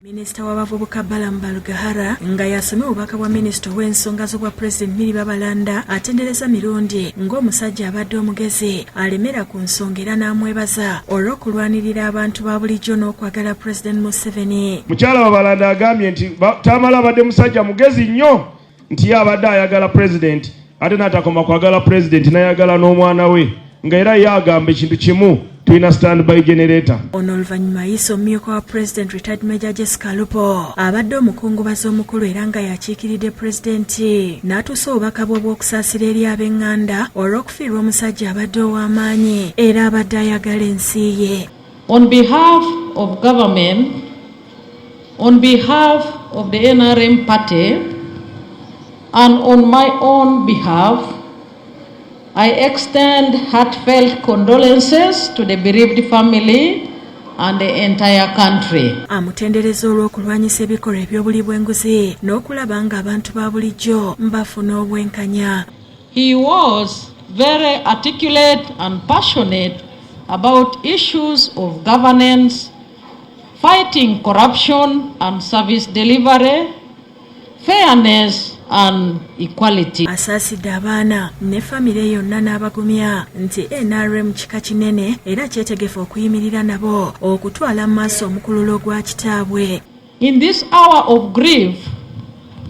Minisita w'abavubuka Balaam Barugahara nga y'asomye obubaka bwa minisita ow'ensonga z'obwa pulezidenti Milly Babalanda atendereza Mirundi ng'omusajja abadde omugezi alemera ku nsonga era n'amwebaza olw'okulwanirira abantu ba bulijjo n'okwagala pulezidenti Museveni. Mukyala Babalanda agambye nti Tamale abadde musajja mugezi nnyo nti ye abadde ayagala pulezidenti ate n'atakoma kwagala pulezidenti n'ayagala n'omwana we nga era ye agamba ekintu kimu tulina standby generator ono oluvannyuma ayise omumyuka wa president retired major jessica lupo abadde omukungubazi omukulu era nga yakiikiridde pulezidenti n'atuusa obubaka bwe obw'okusaasira eri ab'eŋŋanda olw'okufiirwa omusajja abadde ow'amaanyi era abadde ayagala ensi ye On behalf of government, on behalf of the NRM party, and on my own behalf, I extend heartfelt condolences to the bereaved family and the entire country. Amutendereza olw'okulwanyisa ebikolwa eby'obuli bw'enguzi n'okulaba ng'abantu ba bulijjo mbafuna obwenkanya. He was very articulate and passionate about issues of governance, fighting corruption and service delivery, fairness and equality. Asaasidde abaana ne famire yonna n'abagumya nti NRM kika kinene era kyetegefu okuyimirira nabo okutwala mu maaso omukululo gwa kitaabwe. In this hour of grief,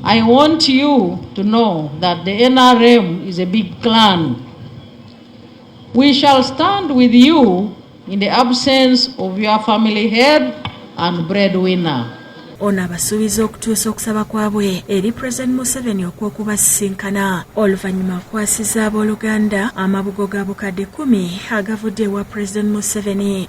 I want you to know that the NRM is a big clan. We shall stand with you in the absence of your family head and breadwinner. ono abasuubiza okutuusa okusaba kwabwe eri pulezidenti museveni okw'okubasisinkana oluvannyuma akwasiza abooluganda amabugo ga bukadde kumi agavudde ewa pulezidenti museveni